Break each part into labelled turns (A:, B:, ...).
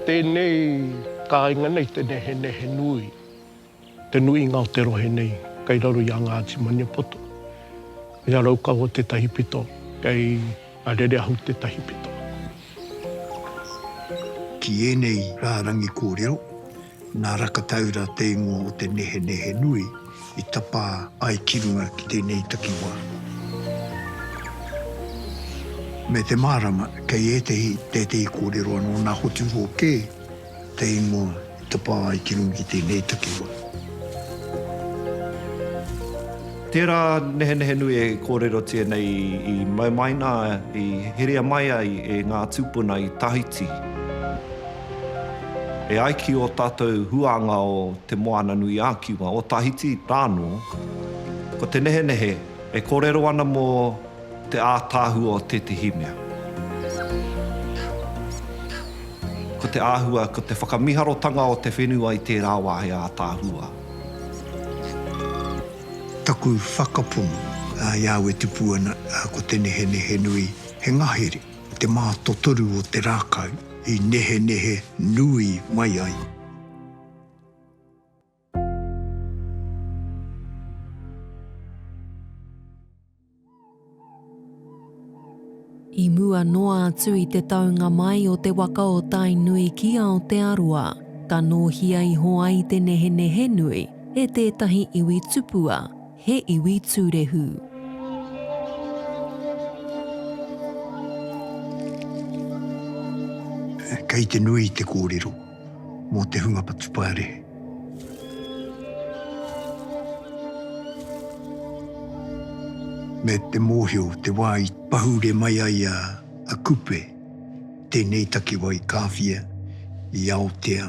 A: Tēnei kāinga nei te nehenehe nui, te nuinga o te rohe nei kei raro i a Ngāti Maniapoto. Kei a Raukawa tētahi pito, kei a Rereahu tētahi pito.
B: Ki ēnei rārangi kōrero, Nā Rakataura te ingoa o te nehenehe nui i tapā ai ki runga ki tēnei takiwā. Me te mārama, kei ētehi, tētehi kōrero anō, nā Hoturoa kē te ingoa i tapā ai ki runga ki tēnei takiwā.
C: Tērā nehenehe nui e kōrerotia nei i maumaina, i herea mai ai e ngā tūpuna i Tahiti. E ai ki ō tātou huānga o Te Moananui-a-Kiwa, o Tahiti rā anō, ko te nehenehe e kōrero ana mō te ātaahua o tētehi mea. Ko te āhua, ko te whakamiharotanga o te whenua i tērā wā he ātaahua.
B: Taku whakapono, a Iāwetipuana, ko te nehenehe nui, he ngahere. I te mātotoru o te rākau i nehenehe nui mai ai.
D: I mua noa atu i te taunga mai o te waka o Tainui ki Aotearoa, ka nōhia iho ai te nehenehe nui e tētahi iwi tupua, He iwi tūrehu.
B: Kei te nui te kōrero mō te hunga patupārehe. Me te mōhio te wā i pahure mai ai a Kupe tēnei takiwā i Kāwhia, i Aotea.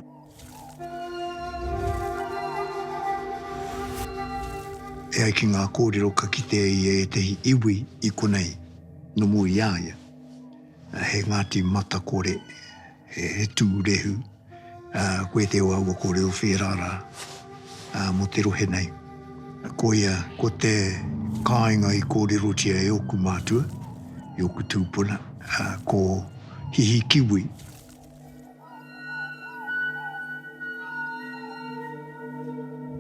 B: E ai ki ngā kōrero ka kitea i ētehi iwi i konei nomu i a ia, he Ngāti Matakore, he tūrehu, koe te o aua kōrero whērā rā mō te rohe nei. Koia ko te kāinga i kōrerotia e ōku mātua, i ōku tūpuna, ko Hihikiwi.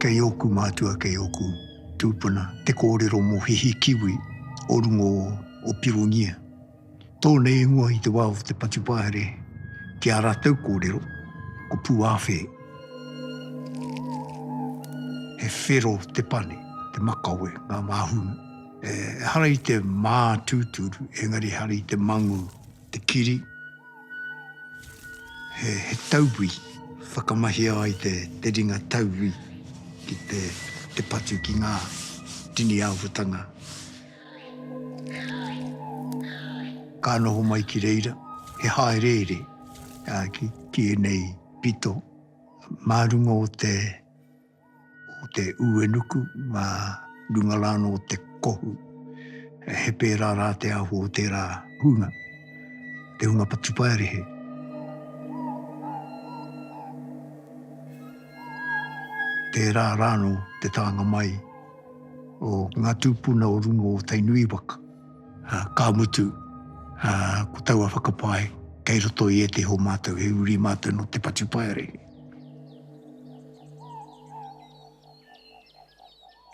B: Kei ōku mātua, kei ōku tūpuna te kōrero mō hihi kiwi o rungo o Pirongia. Tō nei ingoa i te wā o te patupahere ki ā rātou kōrero, ko Pūāwhē. He whero te pane, te makawe, ngā māhunga. Ehara i te mātūturu, engari ehara i te mangū. Te kiri, he tauwi, whakamahia ai te ringa tauwi ki te patu ki ngā tini āhuatanga ka noho mai ki reira, he hāereere ki ēnei pito mā runga o te. o te uenuku mā runga rānō o te kohu. He pērā rā te ahu o tērā hunga, te hunga patupaerehe. Tērā rānō te tānga mai o ngā tūpuna o runga o Tainui waka. Ka mutu, ko taua whakapae, kei roto i ētehi o mātou, he uri mātou nō te patupaerehe.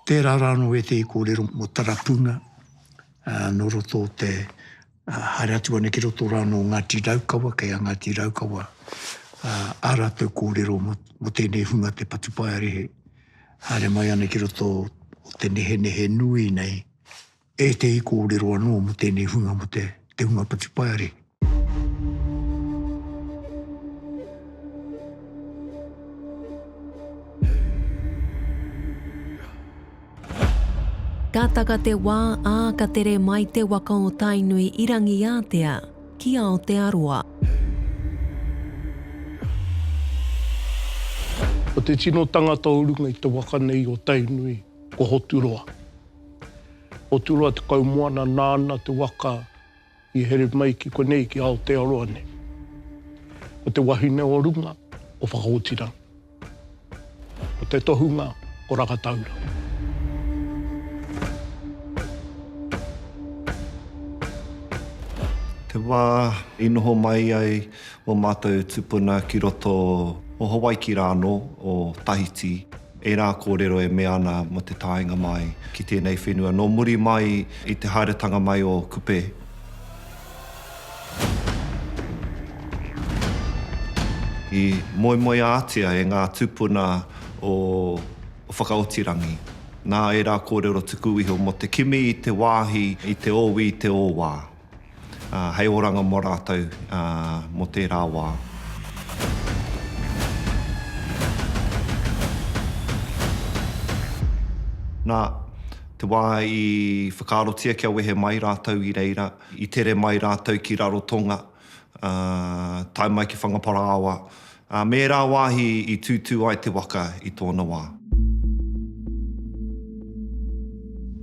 B: Tērā rānō ētehi kōrero mō Tarapuna nō roto o te, haere atu ana ki roto rānō o Ngāti Raukawa, kei a Ngāti Raukawa ā rātou kōrero mō tēnei hunga te Patupaerehe, haere mai ana ki roto o te nehenehe nui nei Ētehi kōrero anō mō tēnei hunga mō te te hunga Patupaiarehe.
D: Ka taka te wā, ā, ka tere mai te waka o Tainui i Rangiātea ki Aotearoa.
A: Ko te tino tangata o runga i te waka nei o Tainui ko Hoturoa. Otirua tekau moana nāna te waka i here mai ki konei, ki Aotearoa nei. Ko te wahine o runga, ko Whakaotira. Ko te tohunga, ko Rakataura.
C: Te wā i noho mai ai o mātou tupuna ki roto o Hawaiki rānō, o Tahiti. Ērā kōrero e mea ana mō te taenga mai ki tēnei whenua nō muri mai i te haeretanga mai o Kupe. I moemoeātia e ngā tūpuna o Whakaotirangi nā ērā kōrero tuku iho mō te kimi i te wāhi, i te ōwi, i te ōwā. Hei oranga mo ratou mo tera wa. Na, te wa i whakaarotia kia wehe mai ratou i reira, i tere mai ratou ki Rarotonga, tae mai ki Whangaparāoa, Ā, me ērā wāhi i tūtū ai te waka i tōna wā.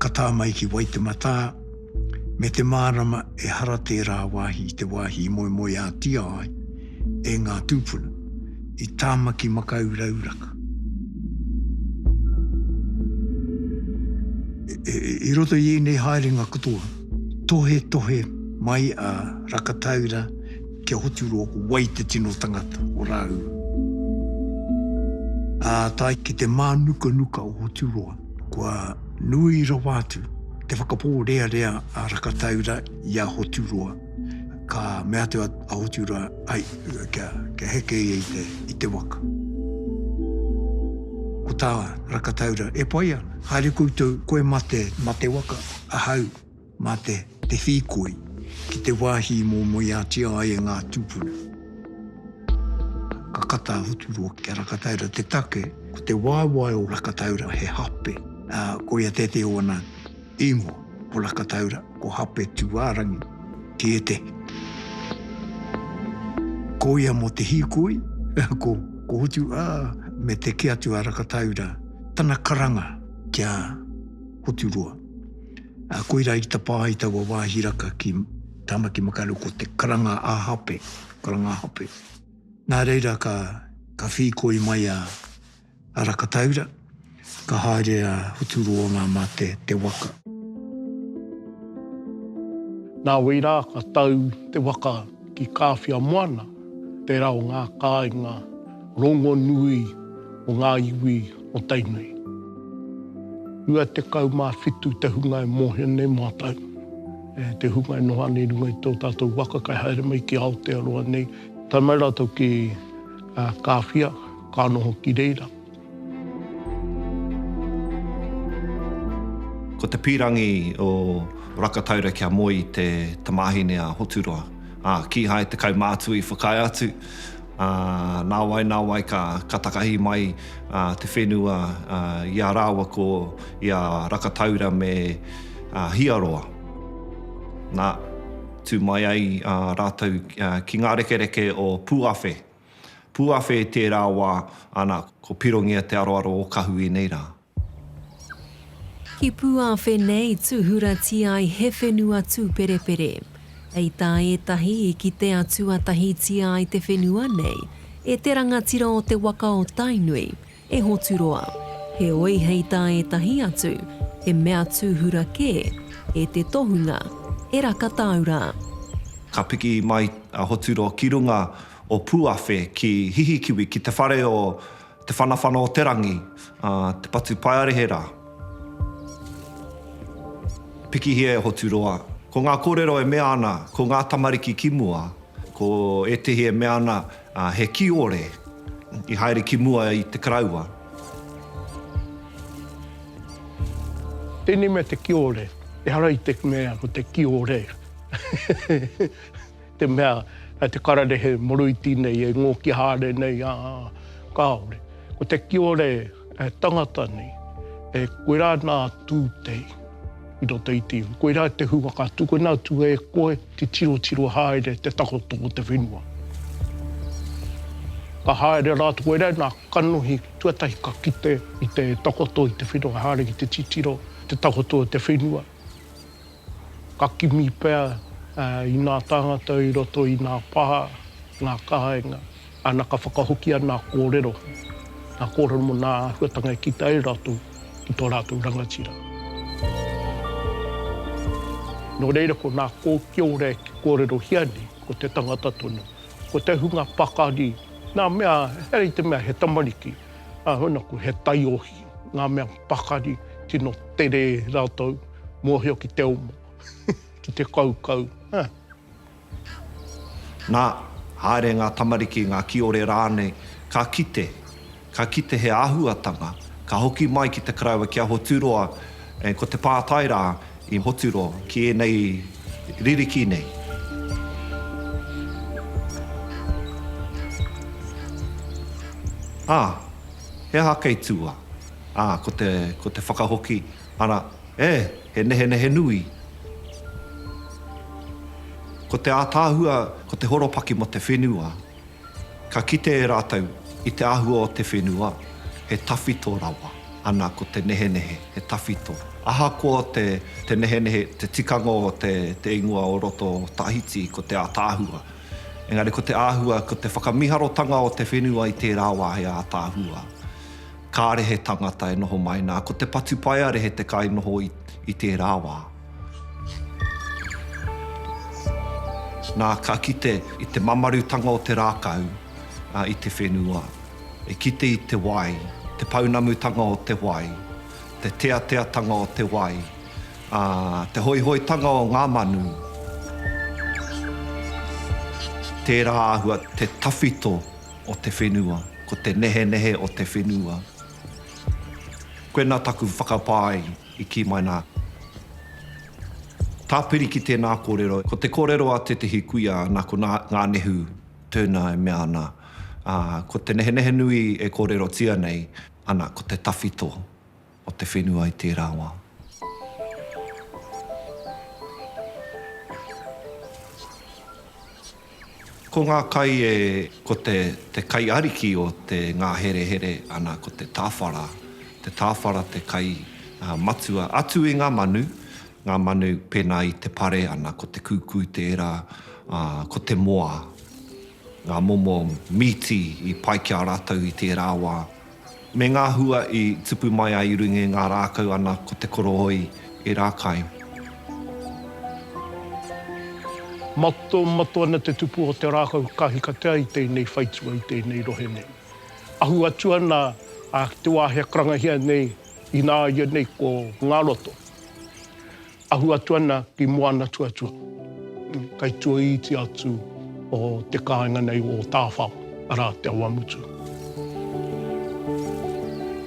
B: Ka tā mai ki Waitematā, me te mārama ehara tērā wāhi i te wāhi i moemoeātia ai e ngā tūpuna, i Tāmaki Makaurauraka. I roto i ēnei haerenga katoa, tohetohe mai a Rakataura, Kia hotu roa ko wai te tino tangata o Rāuru. Ā tae ki te mānukanuka o Hoturoa, kua nui rawa atu te whakapōrearea a Rakataura i a Hoturoa. Ka mea atu a Hoturoa, ai, kia, kia heke ia i te, i te waka. Ko tā Rakataura, e pai ana, haere koutou, koe mā te, mā te waka, ahau, Mā te te hīkoi ki te wāhi i moemoeātia ai e ngā tūpuna. Ka kata a Hoturoa ki a Rakataura te take, ko te waewae o Rakataura he hape, ā, koia tētehi o ana īngoa, ko Rakataura, ko Hape Tūārangi, ki ētehi. Ko ia mō te hīkoi, ko, ko Hotu, ā, me te kī atu a Rakataura tana karanga ki a Hoturoa, Koirā i tapā ai taua wāhi raka ki Tāmaki Makaurau ko te karanga ā-hape, karanga ā-hape. Nā reira ka whīkoi mai a Rakataura, ka haere a Huturoanga mā te waka. Nā wērā ka
A: tau te waka Ki Kāwhia Moana, tērā o ngā kāinga rongonui o ngā iwi o Tainui. 27 te hunga e mōhio nei mātou, te hunga e noho ana i runga i tō tātou waka kai haere mai ki Aotearoa nei. Tae mai rātou ki Kāwhia, ka noho ki reira.
C: Ko te pīrangi o Rakataura kia moe i te tamāhine a Hoturoa, ā, kīhai te kaumātua i whakaae atu, ā, nāwai nāwai ka, ka takahi mai te whenua i a rāua ko i a Rakataura me Hiaroa. Nā, tū mai ai rātou ki ngā rekereke o Pūawhe. Pūawhe i tērā wā, ana, ko Pirongia te aroaro o Kahu i nei rā.
D: Ki Pūawhe nei tūhuratia ai he whenua tūperepere. Hei tā ētahi i kite atu atahitia ai te whenua nei e te rangatira o te waka o Tainui, E Hoturoa. Heoi hei tā ētahi atu, he mea tūhura kē, e te tohunga, e Rakatāura. Ka
C: piki mai a Hoturoa ki runga o Pūawhe ki Hihikiwi, ki te whare o Te Whanawhana-o-te-rangi, Te Patupaearehera. Pikihia e Hoturoa. Ko ngā kōrero e mea ana, ko ngā tamariki ki mua, ko ētahi e mea ana, Ā, he kiore i haere ki mua i te Karaua.
A: Tēnei mea te kiore, ehara i te mea ko te kiore, te mea kei te kararehe moroiti nei e ngōki haere nei, ā, kāore. Ko te kiore. E tangata nei, e koe rā nā Tūtei i roto i te iwi. Koe rā te hunga ka tukuna atu e koe te tirotiro haere te takoto o te whenua. Ka haere rā koe rā nā kanohi tuatahi ka kite i te takoto i te whenua haere ki te titiro te takoto o te whenua. Ka kimi pea i nā tāngata i roto i nā pā, nā kāinga, ana ka whakahokia nā kōrero, nā kōrero mō nā āhuatanga e kita ai rātou ki tō rātou rangatira. Nō reira ko nā kōkiore e kōrerohia nei, ko te tangata tonu, ko te hunga pakari, nā mea, heoi te mea he tamariki, ā, hoi nōku, he taiohi, ngā mea pakari tino tere rātou. Mōhio ki te omo, ki te kaukau, ha!
C: Nā, haere ngā tamariki, ngā kiore rānei, ka kite, ka kite he āhuatanga, ka hoki mai ki te karaua ki a Hoturoa, ē, ko te pātai rā i Hoturoa ki ēnei ririki nei. Ā, he aha kei tua? Ā, ko te, ko te whakahoki. Ara, e, he nehenehe nui. Ko te ātaahua, ko te horopaki mō te whenua. Ka kite e rātou, i te āhua o te whenua, he tawhito rawa. Ana, ko te nehenehe, he tawhito. Ahakoa te nehenehe, te tikanga o te ingoa o roto o Tahiti, ko te ātaahua. Engari ko te āhua, ko te whakamiharotanga o te whenua i tērā wā, he ātaahua. Kāre he tangata e noho mai, nā, ko te patupaiarehe te kainoho i tērā wā. Nā, ka kite i te mamarutanga o te rākau i te whenua, e kite i te wai, te pounamutanga o te wai, te teateatanga o te wai, ā, te hoihoitanga o ngā manu. Tērā āhua te tawhito. o te whenua, ko te nehenehe o te whenua. Koinā taku whakapae i kī mai nā. Tāpiri ki tēnā kōrero, ko te kōrero a tētehi kuia nā ko Ngā Nehu Turner e mea ana, ko te nehenehe nui e kōrerotia nei ana ko te tawhito o te whenua i tērā wā. Ko ngā kai e, ko te, te kai ariki o te ngāherehere, ana, ko te tāwhara. Te tāwhara te kai matua atu i ngā manu, ngā manu pēnā i te pare, ana, ko te kūkū tērā, ā, ko te moa. Ngā momo mīti i pai ki a rātou i tērā wā, Me ngā hua i tupu mai ai i runga i ngā rākau ana ko te korōi e rākai.
A: Matomato ana te tupu o te rākau ka hikatea i tēnei whaitua, i tēnei rohe nei. Ahu atu ana ki te wāhi a karangahia nei, ināianei ko Ngāroto. Ahu atu ana ki Moanatuatua, kei tua iti atu o te kāinga nei o Tāwhao, arā, Te Awamutu.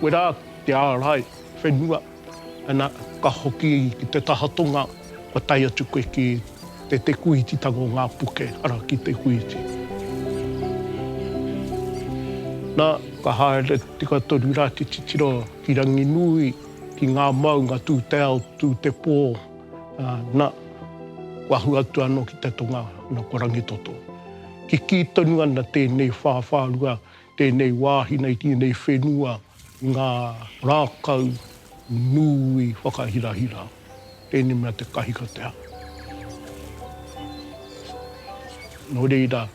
A: Wera te ārai whenua, ana, ka hoki ki te taha tonga, kua tae atu koe ki te Te Kūititanga o ngā Puke, arā, ki Te Kūiti. Na, ka haere tika toru rā te titiro ki Ranginui. ki ngā maunga tū te ao, tū te pō, na, kua hu atu anō ki te tonga, na ko Rangitoto. Kikī tonu ana tēnei whāwhārua, tēnei wāhi nei, tēnei whenua i ngā rākau nui whakahirahira. Tēnei mea te kahikatea. Nō reira.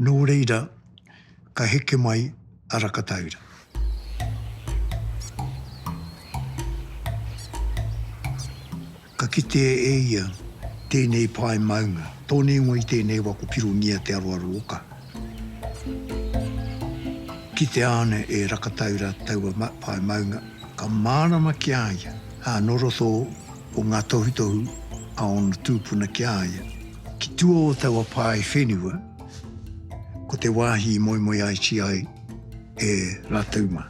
B: Nō reira, ka heke mai a Rakataura. Ka kite e ia tēnei pae maunga, tōna ingoa i tēnei wa ko Pirongia te aroaro oka. Kitea ana e Rakataura taua pae maunga, ka mārama ki a ia, ā, nō roto o ngā tohutohu a ōna tūpuna ki a ia, Ki tua o taua pae whenua, ko te wāhi i moemoeaiti ai e rātou mā.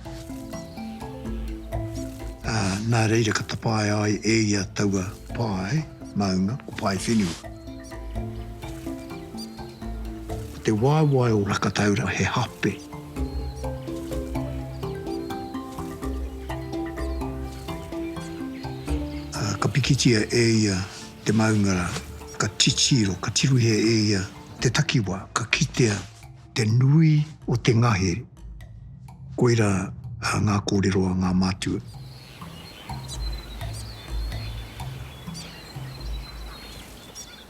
B: Ā, nā reira ka tapaea ai e ia taua pae maunga ko Pae Whenua. Ko te waewae o Rakataura he hape. Ā, ka pikitia e ia Te maunga rā, ka titiro, ka tirohia e ia te takiwā, ka kitea te nui o te ngahere. Koirā ngā kōrero a ngā mātua.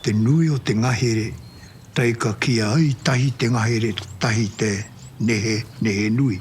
B: Te nui o te ngahere, tae ka kīa ai tahi te ngahere, tahi te nehe, nehe nui.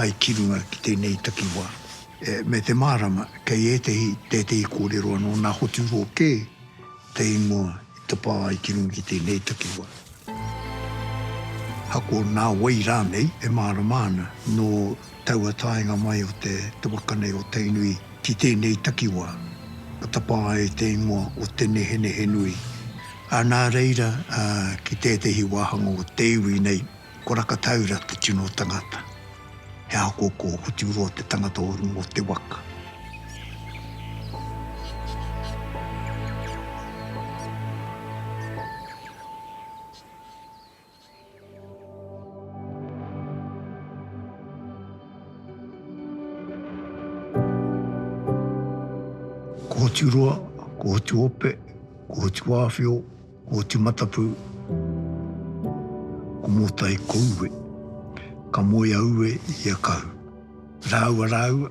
B: ai ki runga ki tēnei takiwā. Me te mārama, kei ētehi, tētehi kōrero anō nā Hoturoa kē te ingoa i tapā ai ki runga ki tēnei takiwā. Ako nā wai rānei e mārama ana, nō taua taenga mai o te waka nei o Tainui ki tēnei takiwā, ka tapā ai te ingoa o Te Nehenehenui, nā reira, ki tētehi wāhanga o te iwi nei, Ko Rakataura te tino tangata. He ahokoko o Hoturoa te tangata o runga o te waka. Ko Hoturoa, ko Hotuope, ko Hotuāwhio, Oti Matapu, ko Motai ko Uwe, ka moe a Uwe i a Kahu. Rāua rāua,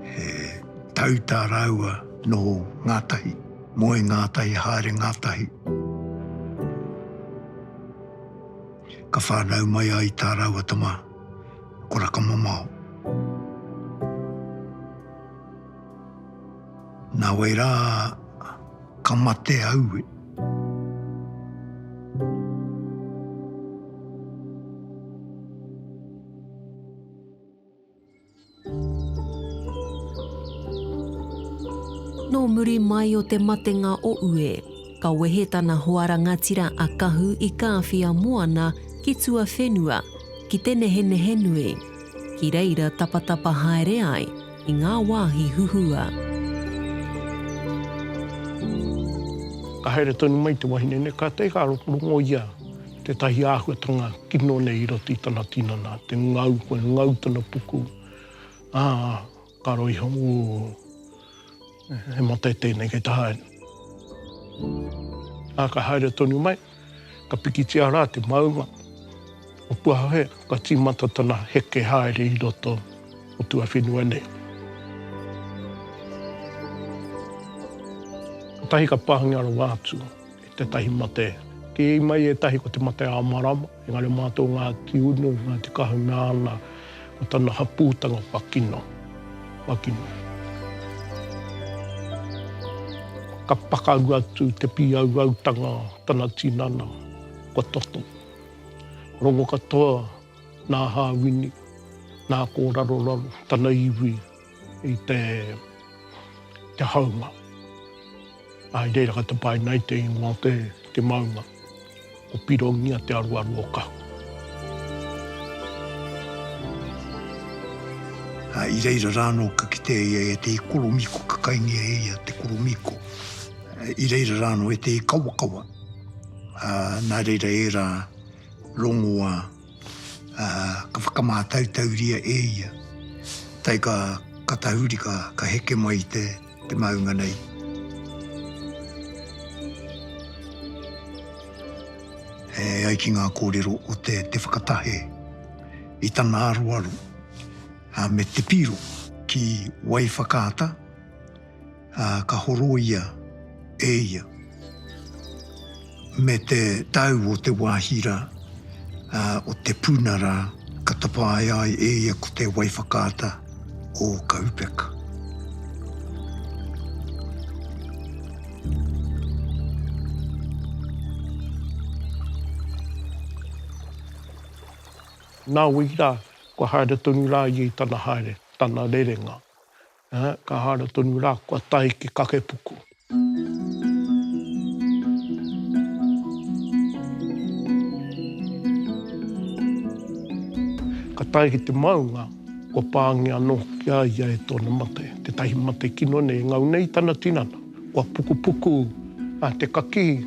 B: he tauta rāua noho ngātahi, moe ngātahi, haere ngātahi. Ka whānau mai ai tā rāua tama, ko Rakamamao. Na wai ra ka mate aue.
D: Nō muri mai o te matenga o Ue, ka wehe tana hoa rangatira a Kahu i Kāwhia moana ki tuawhenua, ki te nehenehe nui. Ki reira tapatapa haere ai, i ngā wāhi huhua.
A: Ka haere tonu mai te wahine nei, kātahi ka rongoia tētahi āhuatanga kino nei i roto i tana tinana, te ngau, kua ngau tana puku, ā, ka roi iho, ū. He mate tēnei kei te haere. Ā, ka haere tonu mai, ka pikitia rā te maunga o Puahohe, ka tīmata tana heke haere i roto o tuawhenua nei. Kotahi ka pāngia rawa atu e tētahi mate, kī mai ētahi ko te mate a Amarama, Engari mā tō Ngāti Unu, Ngāti Kahu nāna, ko tana hapūtanga kua kino, kua kino. Ka pakaru atu te pīauautanga o tana tinana, kua toto. Rongo katoa nā Hāwini, nā Kōraroraro, tana iwi, i te haunga. I reira ka tapae nei te ingoa o te maunga, ko Pirongia te aruaru o Kahu.
B: I reira rā anō ka kitea ia e te ikoromiko, ka kaingia e ia te koromiko. I reira rā anō e te ikawakawa, nā reira ērā rongoā. ā, ka whakamātautauria e ia. Tae ka, ka tahuri, ka, ka heke mai i te, te maunga nei. E ai ki ngā kōrero o te, te whakatahe i tana aroaro, ā, me te piro ki Waiwhakaata, Ā, ka horoia e ia me te tau o te wāhi rā, ā, o te puna rā, ka tapaea ai e ia ko te wai whakaata o Kaupeka.
A: Nā wai rā, kua haere tonu rā ia i tana haere, tana rerenga. Ka haere tonu rā, kua tae ki Kakepuku. Ka tae ki te maunga, kua pāngia anō hoki a ia e tōna mate, tētahi mate kino nei, engau nei tana tinana. Kua pukupuku te kakī,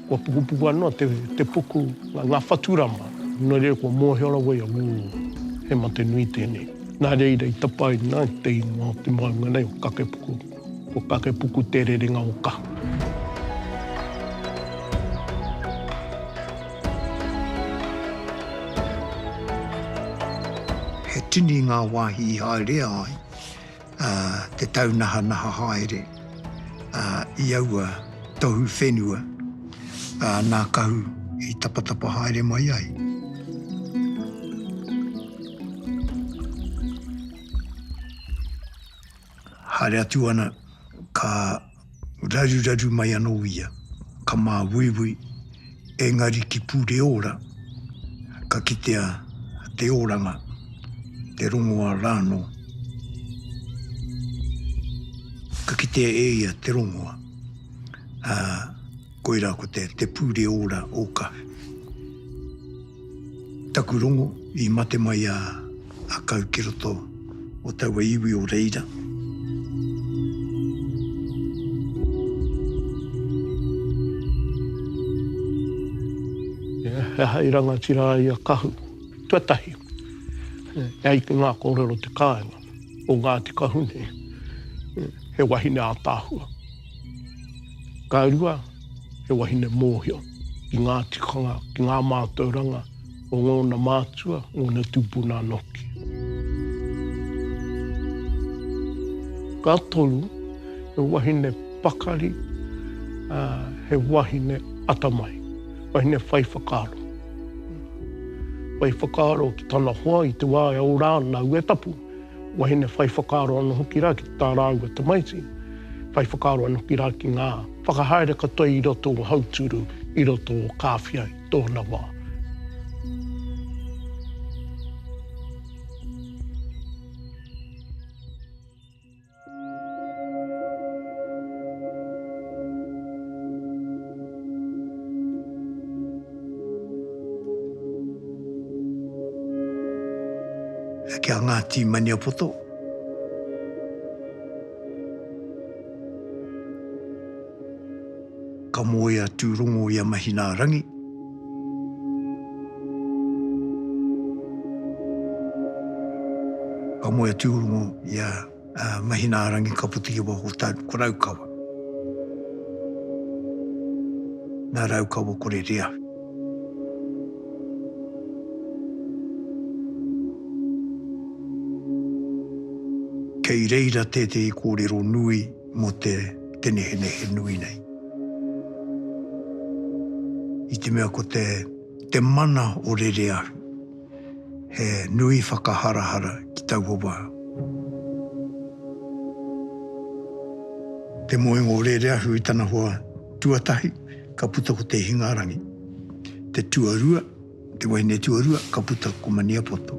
A: kua pukupuku anō te puku, ngā whaturama. Nō reira kua mōhio rawa ia, ū, he mate nui tēnei. Nā reira i tapaina te ingoa o te maunga nei, o Kakepuku, ko Kakepuku Te Rerenga o Kahu.
B: He tini ngā wāhi i haerea ai ā, te taunahanaha haere, ā, i aua tohu whenua, ā, nā Kahu i tapatapa haere mai ai. Haere atu ana, ka. raruraru mai anō ia, ka māuiui, engari ki Pureora, ka kitea te oranga, te rongoā rānō. Ka kitea e ia te rongoā. Ā. Koira ko te te pure ora o ka. Taku rongo i mate mai a a kau ki roto o taua iwi o reira.
A: He aha i rangatira ai a Kahu? Tuatahi, e ai ki nga korero te kaenga o Ngati Kahune, he wahine atahua. Ka rua, he wahine mōhio ki ngā tikanga, ki ngā mātauranga o ngōna mātua, ngōna tūpuna anō hoki. Ka toru, he wahine pakari, he wahine atamai, wahine whai whakaaro. Whai whakaaro ki tana hoa i te wā e ora ana aua tapu. Wahine whai whakaaro anō hoki rā ki tā rāua tamaiti, whai whakaaro anō hoki rā ki ngā whakahaere katoa i roto o Hauturu, i roto o Kāwhia i tōna wā.
B: Kia Ngāti Maniapoto. Ka moe a Tūrongo i a Mahinaarangi. Ka moe a Tūrongo i a Mahinaarangi ka puta i waho tau ko Raukawa. Na Raukawa ko Rereahu. Kei reira tētehi kōrero nui. mō te tenehenehe nui nei. I te mea ko te, te mana o Rereahu, he nui whakaharahara ki taua wā. Te moenga o Rereahu i tana hoa tuatahi, ka puta ko Te Hingarangi. Te tuarua. Te wahine tuarua ka puta ko Maniapoto.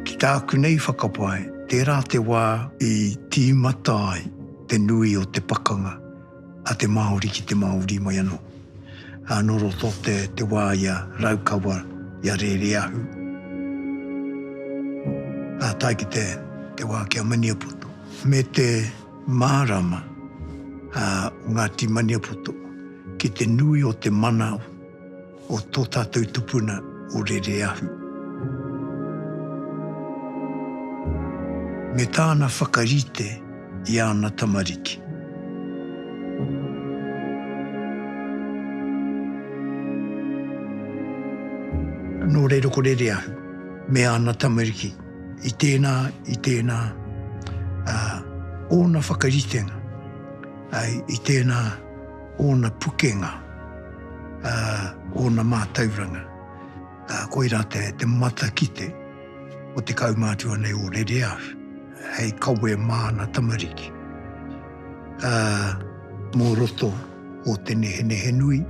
B: Ki tāku nei whakapae, tērā te wā i tīmata ai te nui o te pakanga a te Māori ki te Māori mai anō. Nō roto te wā i a Raukawa, i a Rēreahu, ā tae ki te wā ki a Maniapoto, me te. Mārama a Ngāti Maniapoto ki te nui o te mana o tō tātou tupuna o Rereahu. Me tāna whakarite i āna tamariki. Nō reira ko Rereahu me āna tamariki. I tēnā, i tēnā, uh, ōna whakaritenga, uh, i tēnā, ōna pukenga, uh, ōna mātauranga, uh, koirā te, te matakite o te kaumātua nei o Rere Ahu, hei kawe māna tamariki. Uh, mō roto, o te nehenehenui.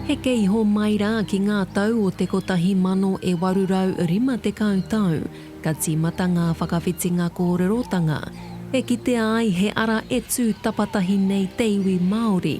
D: Heke iho mai rā ki ngā tau o te 1850 tau, ka tīmata ngā whakawhitinga kōrerotanga, e kitea ai he ara e tū tapatahi nei te iwi Māori,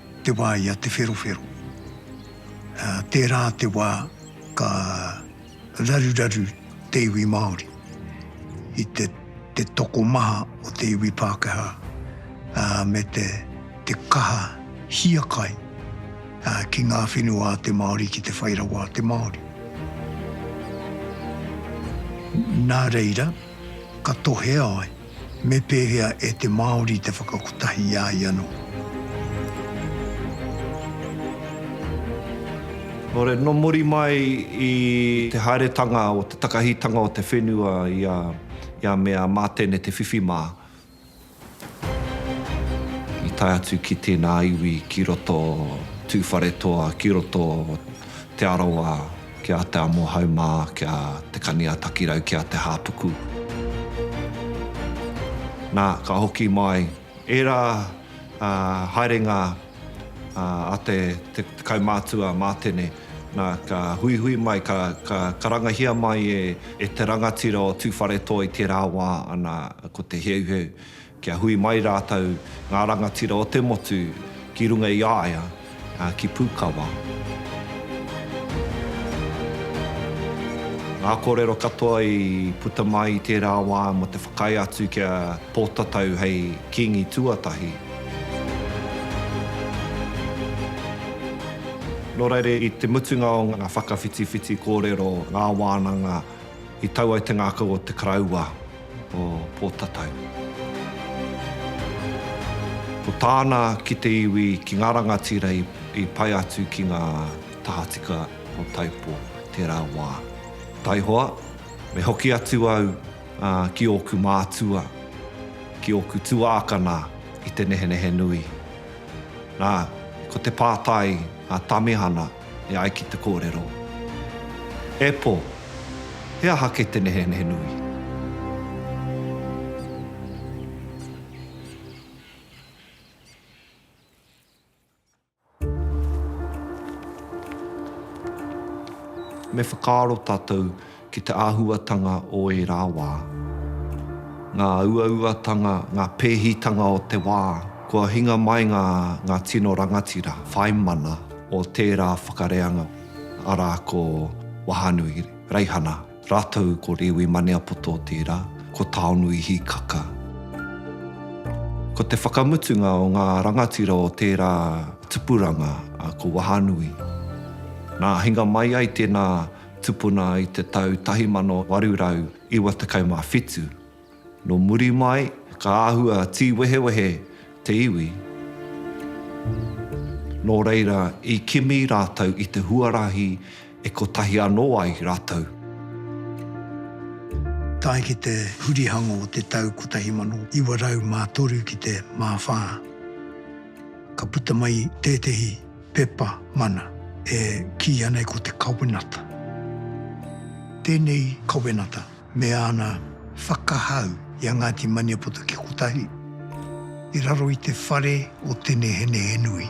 B: te wā i a Te Wherowhero. Tērā te wā ka raruraru te iwi Māori i te tokomaha o te iwi Pākehā me te kaha hiakai ki ngā whenua a te Māori ki te whai rawa a te Māori. Nā reira. Ka tohea ai, me pēhea e te Māori te whakakotahi i a ia noa? Kāore,
C: nō muri mai i te haeretanga o te takahitanga o te whenua i a Mea mā tēnei te whiwhi mā. I tae atu ki tēnā iwi ki roto Tūwharetoa, ki roto Te Arawa, ki a Te Amohaumā, ki a Te Kani-a-Takirau, ki a Te Hāpuku. Nā, ka hoki mai ērā haerenga a te kaumātua mātene, nā, ka huihui mai, ka karangahia mai e te rangatira o Tūwharetoa i tērā wā, ana, ko Te Heuheu, kia hui mai rātou, ngā rangatira o te motu, ki runga i a ia, ki Pūkawa. Ngā kōrero katoa i puta mai i tērā wā mō te whakaae atu kia Pōtatau hei Kīngi tuatahi. Nō reira, i te mutunga o ngā whakawhitiwhiti kōrero, ngā wānanga, i tau ai te ngākau o te Karaua o Pōtatau. Ko tāna ki te iwi, ki ngā rangatira i pai atu ki ngā tahatika o Taipo tērā wā. Taihoa, me hoki atu au. Ki ōku mātua, ki ōku tuākana i te nehenehe nui. Nā, ko te pātai a Tamihana e ai ki te kōrero, E pō, he aha kē te nehenehe nui? Me whakaaro tātou ki te āhuatanga o ērā wā, ngā uauatanga, ngā pēhitanga o te wā, kua hinga mai ngā, ngā tino rangatira, whai mana o tērā whakareanga, arā ko Wahanui Reihana. Rātou ko Rewi Maneapoto tērā, ko Taonui Hikaka. Ko te whakamutunga o ngā rangatira o tērā tupuranga ko Wahanui. Nā, hinga mai ai tēnā tupuna i te tau 1897. Nō muri mai, ka āhua tīwehewehe te iwi. Nō reira, i kimi rātou i te huarahi e kotahi anō ai rātou.
B: Tae ki te hurihango o te tau 1903 ki te Māwhā, ka puta mai tētehi pepa mana e kī ana ko Te Kawenata. Tēnei kawenata me āna whakahau i a Ngāti Maniapoto ki kotahi, i raro i te whare o Tenehenehenui.